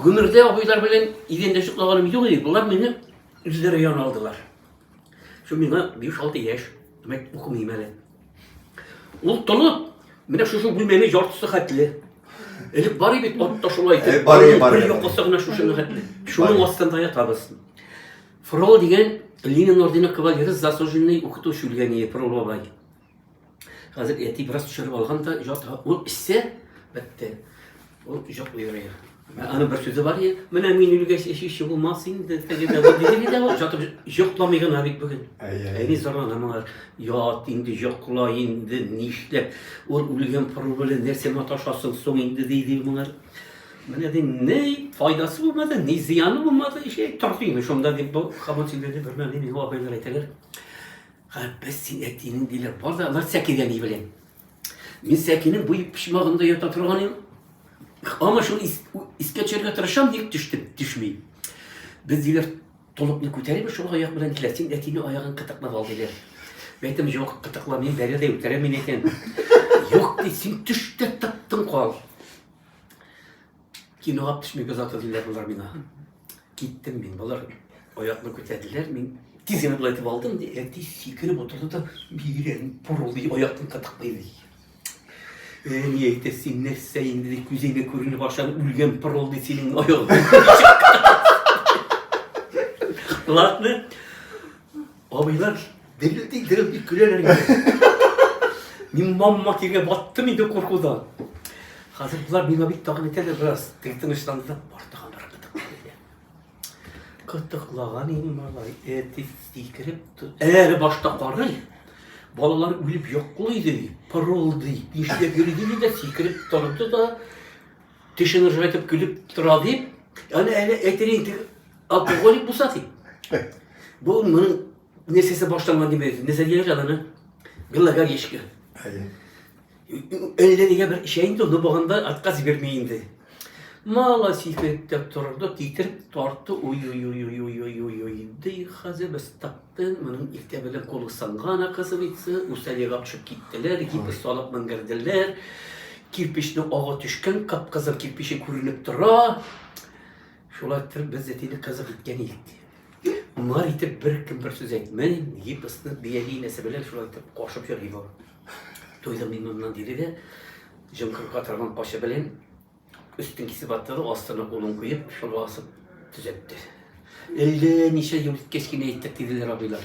Гомердә абыйлар белән идәндәшеп калганым юк иде. Болар мине үзләре яна алдылар. Шул миңа 5-6 яшь, димәк, укымыйм әле. Ул толып, менә шушы бүлмәне яртысы хәтле. Элек бар иде бит атта шулай итеп. Э, бар иде, бар иде. Якасы гына шушыны хәтле. Шуның астында ятабыз. Фрол дигән Ленин ордены кавалеры заслуженный укытучы үлгән иде Фрол бабай. Хәзер әти бераз төшереп алган да, җата. Ул эчсә, бетте. Ул җак уйрый. Аны бер сүзе бар, менә мин үлгәч эчүче булмас инде, теге дә бар, диде дә бар, җатып җокламый гына бит бүген. Әни зарлана моңа, ят инде, җокла инде, нишләп, ул үлгән пырыл белән нәрсә маташасың соң инде, диде моңа. Менә ди, ни файдасы булмады, ни зыяны булмады, эчә, торды инде, шунда дип, бу хамон синдерде, бер мәле миңа абайлар әйтәләр. Габбәс, син әтиенең диләр, бар да алар сәкегә ни белән? Мин сәкинең буй почмагында ята торган идем. Аңа шуны ис, искә төшерергә тырышам, ник төште, төшми. Без диләр, толыпны күтәреп, шул аяк белән килә, син әтине аягын кытыклап ал диләр. Әйтем, юк, кытыклап, мин бәрә дә үтерә мин әйтәм. Юк, ди, син төш тә тыптың кал. Кинога төшмик озатыр диләр болар миңа. Киттем мин, болар аякны күтәрделәр, мин тиз генә болай итеп алдым, ди, әти сикереп отырды да, бигрәк пырылдый аякны кытыклый ди. Әни әйтә, син нәрсә инде ди, күзеңә күренеп ашан үлгән пырылдый синең аягың. Ладно. Абыйлар дерел ди, дерел ди көләләр инде. Мин мамма киргә баттым инде куркудан. Хәзер болар миңа бик тагын итәләр бераз. Тик тынычланды да артыга бер кытык. Кытыклаган инде малай, әти сикереп тор. Әле башта карый. Балалар үлеп йоклый ди, пырылдый, нишләп йөри ди дә сикереп торды да Тешен ыржайтып көлеп тора дип, аны әле әйтер инде, алкоголик булса дип. Бу моның нәрсәсе баштанган дип әйтер. Нәрсә дигән җаданы? Гыллагар ешкы. Әллә нигә бер эчә инде, ул баганда отказ бирми инде. Мала сикереп торды, китереп тартты, уй-уй-уй-уй-уй-уй-уй-уй, ди, хәзер без тап Тын, моның иртә белән кулы сынган, оказывается, үстән елап төшеп киттеләр, гипс салып менгерделәр, кирпечне ага төшкән, кып-кызыл кирпече күренеп тора. Шулай итеп без әтине кызык иткән идек, ди. Моңар итеп беркем бер сүз әйтмәй, гипсны бияли инәсе белән шулай итеп кашып йөри бу. Туйдым мин моннан, диде дә, җымкырга торган качы белән Өстен кисеп аттыру, астына улын куеп, шуны асып төзәтте. Элде ничә ел үткәч кенә әйттек, диделәр абыйлар.